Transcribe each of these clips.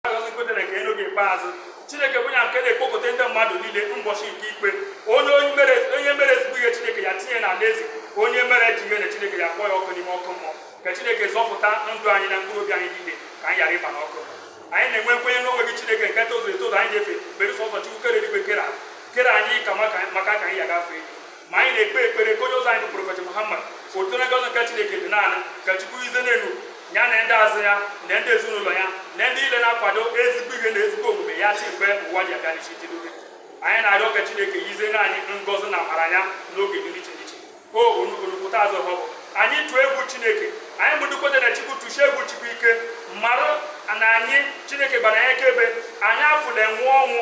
agọzikwutere ka elu gị ikpeazụ chineke bụ ya nke na-ekpokọta ndị mmadụ niile ụbọchị nke ikpe onye onye mere onye mere ezigbo ihe chineke ya tinye n'ala eze onye mere ajọ ihe na chineke ya kpọọ ya ọkụ n'ime ọkụ mmụọ ka chineke zọpụta ndụ anyị na mkpụrụ obi anyị niile ka anyị ghara ịba n'ọkụ anyị na-enwe nkwenye n'onwe gị chineke nke tozuru etozu anyị na-efe bere sọsọ chukwu kere eluigwe kere ala kere anyị ka maka maka ka anyị ya ga-efe ma anyị na-ekpe ekpere ka onye ụzọ anyị bụ prọfet Muhammad ka udo na ngọzi nke Chineke dị na ya ka Chukwu ize n'elu ya na ndị azụ ya na ndị ezinụlọ ya na ndị ile na-akwado ezigbo ihe na ezigbo omume ya si mgbe ụwa ji abịa n'isi njedebe anyị na-arịọ ka Chineke yize na anyị ngọzi na amara ya n'oge dị n'iche n'iche o onukwuta azụ ọbụ anyị tụọ egwu Chineke anyị bụ ndị kweta na Chukwu tụsie egwu Chukwu ike mara na anyị Chineke gbara anyị akaebe anyị afụla enwe ọnwụ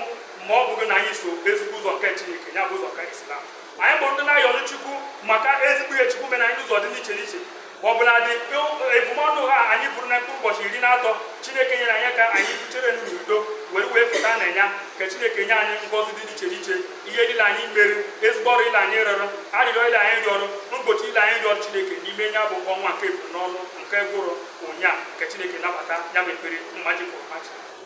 ma ọ bụghị na anyị so ezigbo ụzọ nke Chineke ya bụ ụzọ nke Islam anyị bụ ndị na-ayọrọ Chukwu maka ezigbo ihe Chukwu mere anyị n'ụzọ dị n'iche n'iche ọ bụladị ebumọnụ a anyị buru na mkpụrụ ụbọchị iri na atọ Chineke nyere anyị ka anyị buchere n'udo were wee pụta na ya ka Chineke nye anyị ngọzi dị iche iche ihe niile anyị mere ezigbo ọrụ ile anyị rụrụ arịrịọ ile anyị rịọrọ mkpuchi ile anyị rịọrọ Chineke n'ime ya bụ ọnwa nke ebumọnụ nke gwụrụ ụnyaa ka Chineke nabata ya bụ ekpere mmaji pụrụ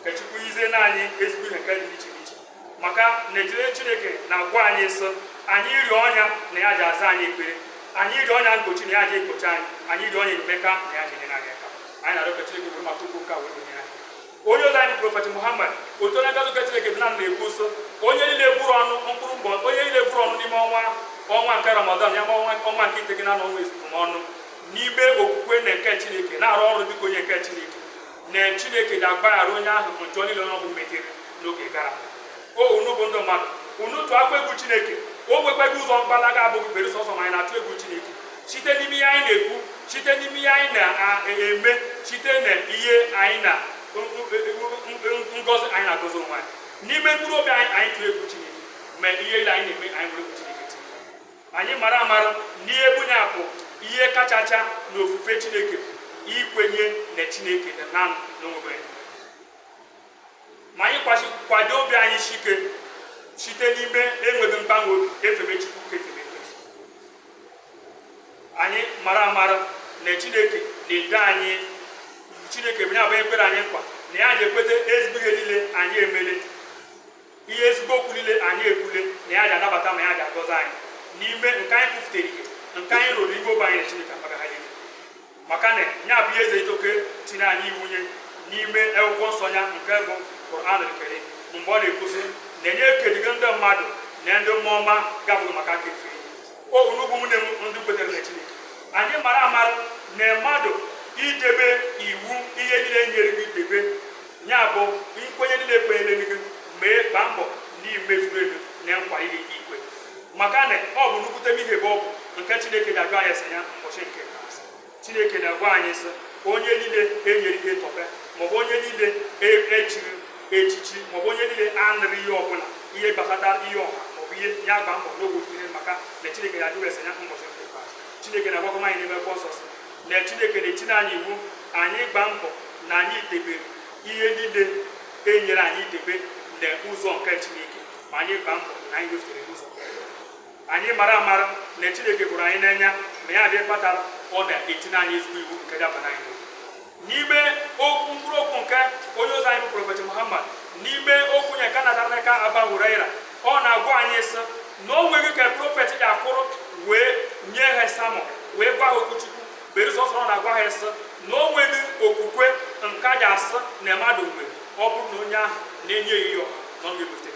ka Chukwu yizie na anyị ezigbo ihe nke dị iche iche maka n'ezie Chineke na-agwa anyị sị anyị rịọ nya na ya ji aza anyị ekpere anyị rịọ nya mkpuchi na ya ji ekpuchi anyị anyị rịọ nya enyemaka na ya ji nyere anyị aka anyị na-arịọ ka Chineke were maka ụkwụ ụka wee nyere anyị onye ụzọ anyị prọfet Muhammad udo na ngọzi nke Chineke dị na ya na-ekwu sị onye niile buru ọnụ mkpụrụ mbọ onye niile buru ọnụ n'ime ọnwa ọnwa nke Ramadan ya bụ ọnwa ọnwa nke iteghete na ọnwa ebumọnụ n'ime okwukwe na nke Chineke na-arụ ọrụ dịka onye nke Chineke na chineke ga-agbaghara onye ahụ njọ niile ọ bụ metere n'oge gara aga o unu bụ ndị mmadụ unu tụọkwa egwu chineke o nwekwaghị ụzọ mgbalaga abụghị bere sọsọ ma anyị na-atụ egwu chineke site n'ime ihe anyị na-ekwu site n'ime ihe anyị na-eme site na ihe anyị na ngozi anyị na-agozi onwe anyị n'ime mkpụrụ obi anyị anyị tụọ egwu chineke ma ihe ile anyị na-eme anyị nwere egwu chineke anyị mara amara n'ihe bụ ya bụ ihe kachacha na ofufe chineke ikwenye na chineke dị naanị onwe ya ma anyị kwado obi anyị shike site n'ime enweghị mgbanwe obi efebe chukwu ka efebe Kristi. anyị mara amara na chineke na-edo anyị chineke bụ ya bụ ekwere anyị nkwa na ya na-ekweta ezigbo ihe niile anyị emele ihe ezigbo okwu niile anyị ekwule na ya ga-anabata ma ya ga-agọzi anyị n'ime nke anyị kwufutere ihe nke anyị rụrụ iwe obe anyị na Chineke agbaghara ya maka na ya bụ ihe eze itoke tiri anyị iwu nya n'ime akwụkwọ nsọ ya nke bụ Quran Karim mgbe ọ na-ekwu sị na nya ekedịghị ndị mmadụ na ndị mmụọ ma ọ bụghị maka ka efe o unu bụ nwanne m ndị kwetere na Chineke anyị mara amara na mmadụ idebe iwu ihe niile nyere gị debe Ya bụ nkwenye niile e kwenyere gị mee gbaa mbọ n'imezuru elu na nkwa niile i kwe maka na ọ bụ nnukwute ihe bụ okwu nke Chineke ga-ajụ anyị ese ya ụbọchị nke ikpeazụ Chineke na-agwa anyị sị onye niile enyere ihe tọpe maọbụ onye niile echiri echichi maọbụ onye niile anụrụ ihe ọbụla ihe gbasata ihe ọha maọbụ ihe ya gba mbọ n'ogbe maka na Chineke ya ajụ ya ese ya ụbọchị nke ikpeazụ Chineke na-agwakọ anyị n'ime akwụkwọ nsọ sị na Chineke na-etinye anyị iwu anyị gba mbọ na anyị debere ihe niile enyere anyị debe na ụzọ nke Chineke ma anyị gba mbọ na anyị wefere ụzọ anyị mara amara na Chineke hụrụ anyị n'anya ma ya adị kpatara ọ na-etinye anyị ezigbo iwu nke dabara anyị n'ime okwu mkpụrụ okwu nke onye ozi anyị bụ prọfet Muhammad n'ime okwu ya nke a natara n'aka Abu Huraira ọ na-agwa anyị sị na o nweghị ka prọfet ya akwụrụ wee nye ha sermon wee gwa ha okwu chukwu berụ sọsọ ọ na-agwa ha sị na o nweghị okwukwe nke a ga-asị na mmadụ nwere ọ bụrụ na onye ahụ na-enye ya ihe ọha na ọ ga-ebute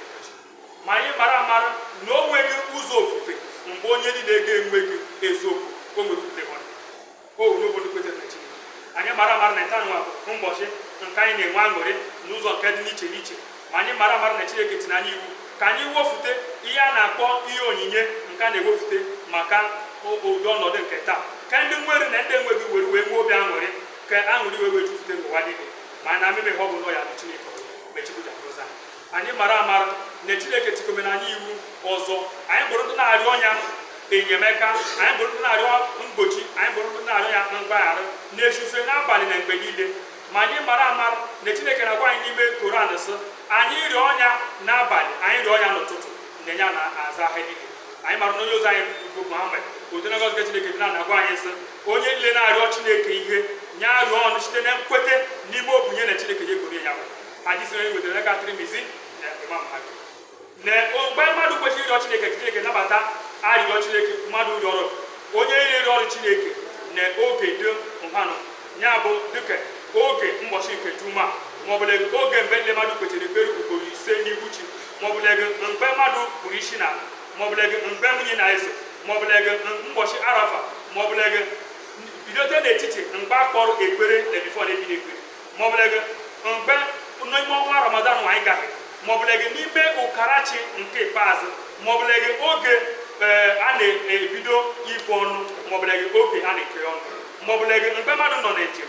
ma anyị mara amara na o nweghị ụzọ ofufe mgbe onye niile ga-enweghị eziokwu o nwere okwukwe anyị mara amara na taa nwa bụ ụbọchị nke anyị na-enwe aṅụrị n'ụzọ nke dị n'iche n'iche ma anyị mara amara na Chineke tiri anyị iwu ka anyị wefute ihe a na-akpọ ihe onyinye nke a na-ewefute maka ụdị ọnọdụ nke taa ka ndị nwere na ndị enweghị were wee nwee obi aṅụrị ka aṅụrị wee wee jupụta n'ụwa niile ma na mmemme ha ọ bụ nọ ya bụ Chineke mechipụta anyị mara amara na chineke tikomere anyị iwu ọzọ anyị bụrụ ndị na-arịọ nya enyemaka anyị bụrụ ndị na-arịọ mgbochi anyị bụrụ ndị na-arịọ ya mgbaghara n'ehihie n'abalị na mgbe niile ma anyị mara amara na chineke na-agwa anyị n'ime koran sị anyị rịọ nya n'abalị anyị rịọ nya n'ụtụtụ na ya na-aza ha niile anyị mara na onye ozi anyị bụ Muhammad udo na ngọzi chineke dị na-agwa anyị sị onye niile na-arịọ chineke ihe nya rịọ nya site na nkwete n'ime obi nya na chineke ya egboro ya hadisi e wetara n'aka Tirmizi na Imam Ahmad na mgbe mmadụ kwesịrị ịrịọ chineke ka chineke nabata arịrịọ chineke mmadụ rịọrọ onye rịọrọ chineke na oge dị nhanụ ya bụ dịka oge mbọchị nke juma maọbụla oge mgbe ndị mmadụ kpesịrị ekpere ugboro ise n'ihu chi maọbụla mgbe mmadụ kpọrọ isi ala maọbụla mgbe mini na-ezo maọbụla mbọchị arafa maọbụla bidote n'etiti mgbe akpọrọ ekpere na before na-ebido ekpere maọbụlege mgbe n'ime ọnwa ramadan anyị gara maọbụlege n'ime ụkarachi nke ikpeazụ maọbụlege oge ee a na-ebido ibu ọnụ maọbụlege oge a na-ekeri ọnụ maọbụlege mgbe mmadụ nọ na njem